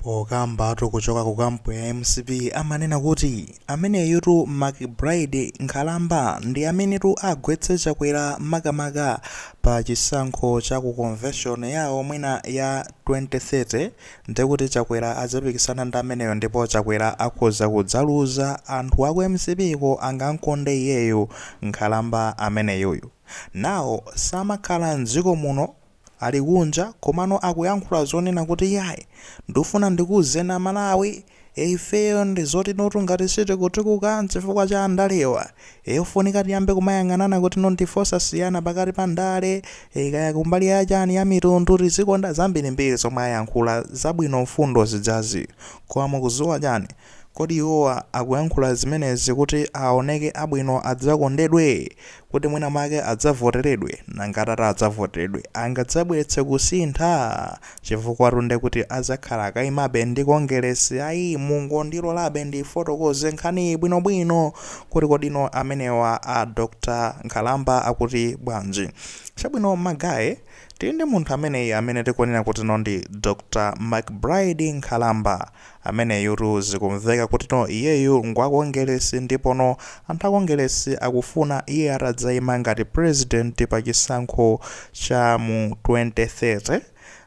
Pokambatu kuchoka ku kampu ya mcp amanena kuti ameneyutu McBride nkhalamba ndi amenetu agwetse Chakwera makamaka pa chisankho cha ku convention yawo mwina ya 2030 ndekuti Chakwera adzapikisana ndi ameneyo ndipo Chakwera akhoza kudzaluza anthu aku mcp ko angankonde iyeyo Nkhalamba ameneyuyu nawo samakhala mdziko muno Ali kunja komano akuyankhula zonena kuti yayi ndufuna ndikuuzeni a Malawi e ifeyo ndi zoti notu ngati sitikutukuka nchifukwa cha andalewa e ofunika tiyambe kumayang'anana kuti no ndife osasiyana pakati pa ndale e kaya kumbali ya chani ya mitundu tizikonda zambirimbiri zomwe ayankhula zabwino mfundo zidzazi koma mukudziwa chani Kodi iwowa akuyankhula zimenezi kuti aoneke abwino adzakondedwe? Kuti mwina make adzavoteredwe? Nanga atati adzavoteredwe angadzabweretse kusintha? Chifukwatu nde kuti adzakhala akaimabe ndi Kongeresi ayi mungondilolabe ndiifotokoze nkhaniyi bwinobwino kuti kodi no amenewa a Dr Nkhalamba akuti bwanji? Chabwino ma guy tili ndi munthu ameneyi amene tikunena kuti no ndi Dr McBride Nkhalamba. Ameneyutu zikumveka kuti no iyeyu ngwa kongelesi ndipo no anthu a kongelesi akufuna iye atadzaima ngati president pa chisankho cha mu 2030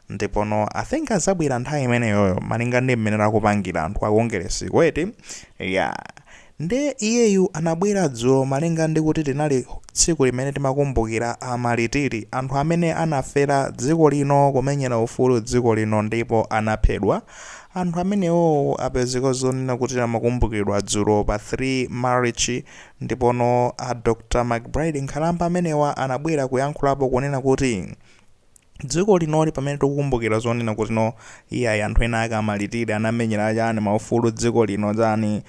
ndipo no I think adzabwera nthawi imeneyoyo malinga ndi mmene akupangila anthu a kongelesiko eti yeah. Nde iyeyu anabwera dzulo malinga ndi kuti linali tsiku limene timakumbukira a Malitiri, anthu amene anafera dziko lino kumenyera ufulu dziko lino ndipo anaphedwa, anthu amenewowo apezeka zonena kuti amakumbukiridwa dzulo pa 3 Marichi ndipono a Dr McBride Nkhalamba amenewa anabwera kuyankhulapo kunena kuti dziko linoli pamene tikukumbukira zonena kuti no iyayi anthu ena ake amalitiri anamenyera chani maufulu dziko lino chani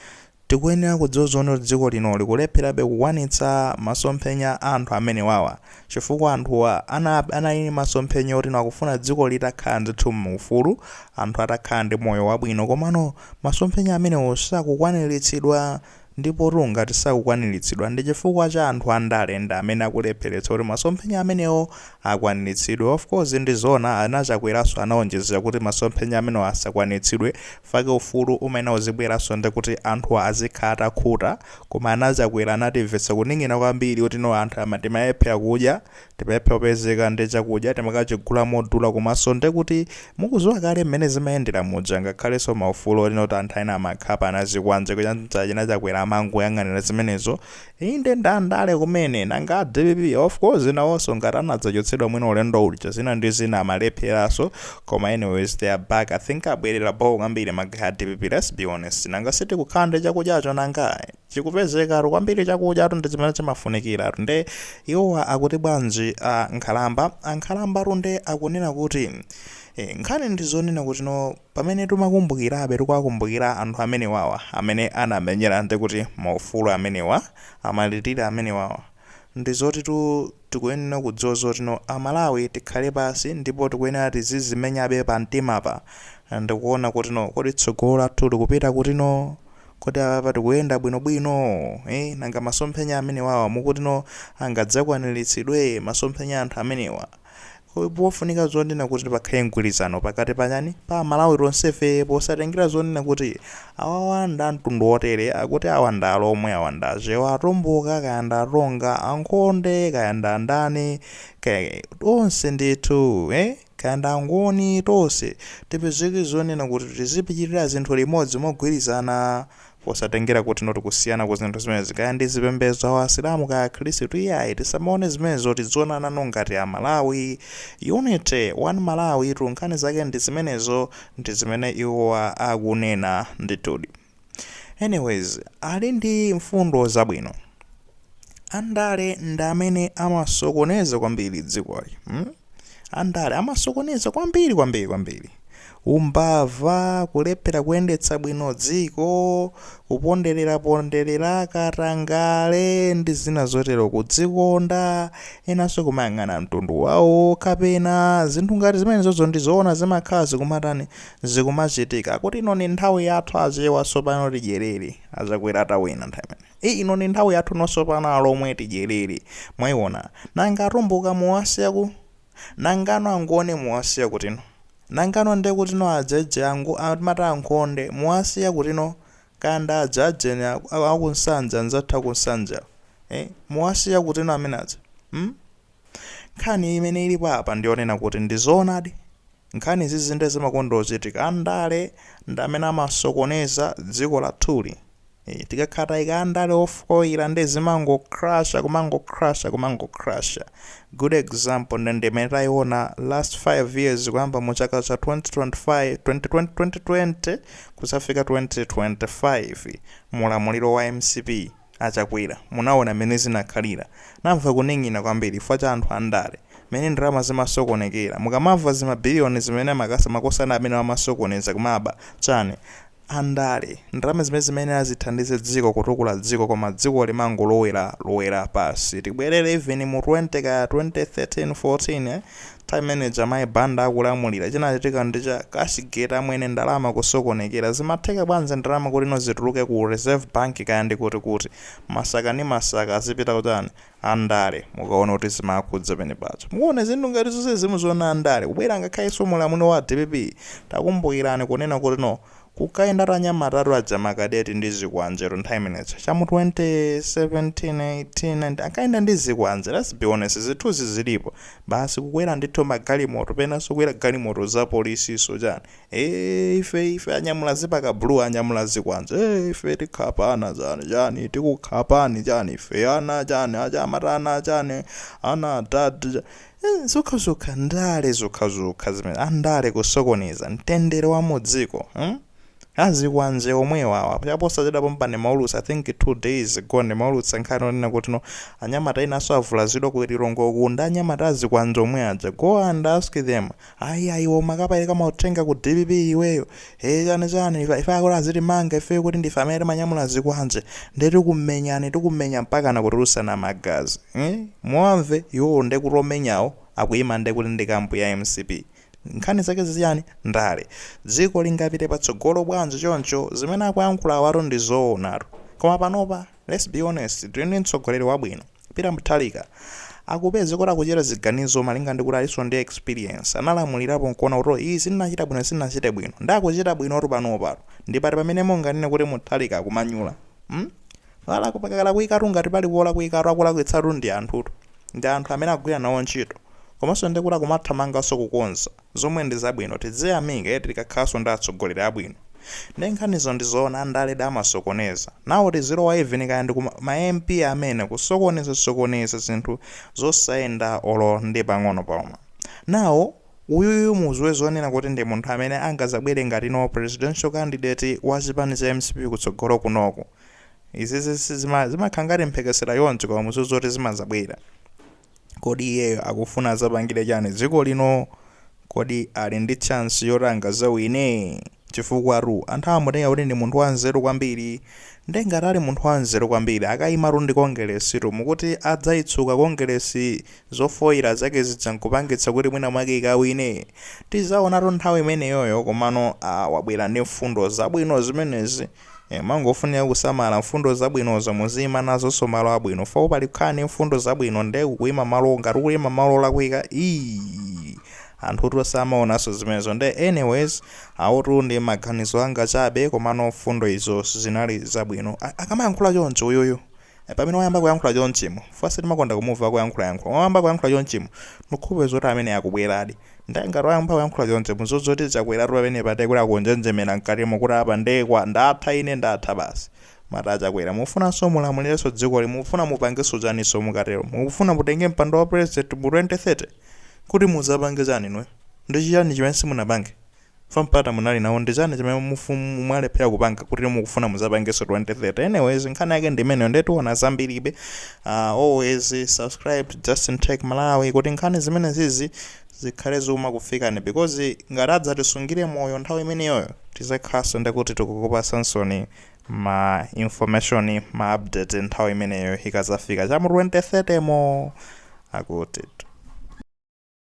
tikuyenera kudziwa zonena kuti dziko lino likulepherabe kukwanitsa masomphenya a anthu amenewawa chifukwa anthuwa ana- anali ndi masomphenya oti no akufuna dziko litakhala ndithu muufulu anthu atakhala ndi moyo wabwino komano masomphenya amenewo sakukwaniritsidwa Ndipotu ngati sakukwaniritsidwa, ndi chifukwa cha anthu andale ndi amene akulepheretsa kuti masomphenya amenewo akwaniritsidwe. Of course ndi zoona ana Chakweraso anaonjezera kuti masomphenya amenewo asakwanitsidwe fake ufulu umayenera uzibweraso ndikuti anthuwa azikhala atakhuta koma ana Chakwera anatimvetsa kuning'ina kwambiri kuti no anthu ama timalephera kudya Timalephera kupezeka ndi chakudya timakachigula modula komaso ndekuti mukuziwa kale mmene zimayendera muja ngakhaleso maufulu oti no anthu ena amakhapa anazikwanje anza a chakwera amangoyang'anira zimenezo inde ndi ndale kumene nanga a dpp of course nawoso ngati anadzachotsedwa mwina ulendo uja zina ndi zina amalepheraso koma anyways they are back i think abwerera bho kwambiri ma guy a dpp let's be honest nanga sitikukhala ndi chakudyacho nanga chikupezekatu kwambiri chakudya tu ndi chimene chimafunikira tu nde iwowa akuti bwanji a nkhalamba ankhalamba tunde akunena kuti e, nkhani ndi zonena kuti no pamene timakumbukirabe tikuwakumbukira anthu amenewawa amene anamenyera ndi kuti maufulu amenewa amalirira amenewawa ndi zoti tu tikuyenera kudziwa zoti no amalawi tikhale pasi ndipo tikuyenera tizizimenyabe pamtimapa ndikuona kuti no kodi tsogolo lathu likupita kuti no kodi apapa tikuyenda bwinobwino eh nanga masomphenya amenewawa mukuti no angadzakwaniritsidwe masomphenya a anthu amenewa Pofunika zonena kuti pakhale mgwirizano pakati pa chani, pa amalawi tonsefe posatengera zonena kuti awawa nda mtundu wotere, akuti awa nda alomwe, awa nda achewa, atumbuka, kaya nda atonga, ankhonde, kaya nda andani, kaya tonse ndithu eh, kaya nda angoni, tonse tipezeke zonena kuti tizipitirira zinthu limodzi mogwirizana Posatengera kuti no tikusiyana ku zinthu zimenezi kaya ndi zipembezo awa asilamu kaya akhrisitu iyayi tisamaone zimenezo tidzionana no ngati a Malawi unity one Malawi tu nkhani zake ndi zimenezo ndi zimene iwowa akunena ndithudi anyways ali ndi mfundo zabwino andale ndi amene amasokoneza kwambiri dzikoli mm. andale amasokoneza kwambiri kwambiri kwambiri umbava kulephera kuyendetsa bwino dziko kuponderera ponderera katangale ndi zina zotero kudzikonda enanso kumayang'ana mtundu wawo kapena zinthu ngati zimenezozo ndi zoona zimakhala zikumatani zikumachitika kuti ino ni nthawi yathu achewa tsopano tidyerere a Chakwera atawina nthawi imene Eeh ino ndi nthawi yathu no tsopano alomwe tidyelele mwaiona nanga atumbuka muwasiya kuti nangano angoni muwasiya kutino nangano ndekutino ajeje angu amati ankhonde muwasiya kutino kaya ndi aja ajeni a a kuNsanje anzathu akuNsanje awa eeh muwasiya kutino amene aja mm nkhani imene ilipo apa ndiyonena kuti ndizoonadi Nkhani izizi nde zimakonda kuchitika andale ndi amene amasokoneza dziko lathuli ee tikakhala taika andale ofoila nde zimango crasher kumango crasher kumango crasher good example nde ndimene taiona last 5 years kuyamba mu chaka cha 2025 2020 2020 kuzafika 2025 mu ulamuliro wa mcp A Chakwera munaona mmene zinakhalira. Namva kuwinya kwambiri chifukwa cha anthu andale. Mmene ndalama zimasokonekera. Mukamamva zima billion zimene amaka makosana amenewo amasokoneza kumaba, chani. Andale. Ndalama zimene zimayenera zithandize dziko kutukula dziko koma dziko limangolowera lowera pansi. Tibwerere even mu 20 kaya 2013 14 Time imene ija amayi Banda akulamulira chinachitika ndi cha cash gate amwene ndalama kusokonekera zimatheka bwanji ndalama kuti no zituluke ku reserve bank kaya ndi kuti kuti? Masaka ndi masaka azipita ku chani? Andale mukaona kuti zimakhudza penapake muona zinthu ngati zonse zimu zoona andale kubwera ngakhalenso mulamuliro wa dpp takumbukirani kunena kuti no kunkayenda anyamatatu aja ma cadet ndi zikwanjetu nthawi imeneja cha mu 2017 18 19 ankayenda ndi zikwanje let's be honest zithuzi zilipo basi kukwera ndithu magalimoto penanso kukwera galimoto za polisiso chani eh ife ife anyamula zipaka blue anyamula zikwanje eh ife tikhapana chani chani tikukhapani chani ife ana chani a dad chani ana a dad cha- Izi zokhazokha ndale zokhazokha zimene andale kusokoneza mtendere wa mudziko hmm azikwanje omwewa awa chaposachedwa pompa ndimaulutsa I think 2 days ago ndimaulutsa nkhani yonena kuti no anyamata enaso avulazidwa ku Lilongwe uku ndi anyamata azikwanje omwe aja go and ask them ayi ayi iwe umakapereka mauthenga ku dpp iweyo ee chani chani ife ife akuti azitimanga ife kuti ndife amene timanyamula zikwanje nde tikumenyani tikumenya mpaka nkutulutsana magazi eh? muwamve iwowo nde kuti omenyawo akuima nde kuti ndi kampu ya mcp nkhani zake ziti za ndale dziko lingapite patsogolo bwanji choncho zimene akuyankhula awatu ndi zoonatu koma panopa Let's be honest, tili ndi mtsogoleri wabwino, Peter Mutharika. Mukupeza kuti akuchita ziganizo malinga ndikuti alinso ndi experience. Analamulirapo nkuona kuti oh izi ndinachita bwino izi sindinachite bwino. Nde akuchita bwinotu panopatu. Ndi pati pamene munganene kuti Mutharika akumanyula? Hmm? Olo pakalakwikatu ngati pali polakwikatu akulakwitsatu ndi anthutu. Ndi anthu amene akugwira nawo ntchito. Komanso ndi oti akumathamanganso kukonza. zomwe ndi zabwino tidziyamika eti tikakhalanso ndi atsogoleri abwino nde nkhanizo ndi zoona andaledi amasokoneza nawo tizilowa even kaya ndi ku ma mp amene kusokoneza sokoneza zinthu zosayenda olo ndi pang'ono pomwe now uyuyu muziwe zonena kuti ndi munthu amene angazabwere ngati no presidential candidate wa chipani cha mcp kutsogolo kunoku izizi sizima zimakhala ngati mphekesera chonchi koma muziwe zoti zimazabwera. Kodi iyeyo akufuna azapangire chani dziko lino? Kodi ali ndi chance yoti angazawine? Chifukwatu anthu amamutenga kuti ndi munthu wanzeru kwambiri. Nde ngati ali munthu wanzeru kwambiri akayimatu ndi Kongeresitu mukuti adzaitsuka Kongeresi zofoira zake zija nkupangitsa kuti mwina mwake ikawine? Tizaonatu nthawi imeneyoyo komano aah wabwera ndi mfundo zabwino zimenezi. Eeh mangofunika kusamala mfundo zabwinozo muziima nazonso pa malo abwino fo pali kukhala ndi mfundo zabwino nde ukuima malo ngati ukuima malo olakwika anthutu samaonanso zimenezo nde anyways awotu ndi maganizo anga chabe komano mfundo izo zinali zabwino A- akamayankhula choncho uyuyu Pamene wayamba kuyankhula chonchimo, chifukwa sitimakonda kumuva akuyankhula yankhula, koma wayamba kuyankhula chonchimu, nkhulupira zoti ameneyi akubweladi. Nde ngati wayamba kuyankhula choncho, muziwe zoti Chakwelatu pamenepa nde kuti akunjenjemela mkatimu kuti apa nde kwa, ndatha ine ndatha basi. Mwati a Chakwela, mufunanso mulamulilenso dzikoli, mukufuna mupangenso chaninso mukatelo? Mukufuna mutenge mpando wa president mu 2030? Kuti muzapange chani inuyo? Ndi chiyani chimene simunapange? Fa mpata munali nawo ndichani chimene mwalephera kupanga kuti mukufuna muzapangeso 2030 anyways nkhani yake ndimeneyo nde tiona zambiribe uh, always subscribe to Justin Tech Malawi kuti nkhani zimenezizi zikhale zikumakufikani because ngati atadzatisungire moyo nthawi imeneyoyo tizakhalanso ndekuti tikukupasansoni ma information ma update nthawi imeneyo ikazafika chamu 2030 mo akuti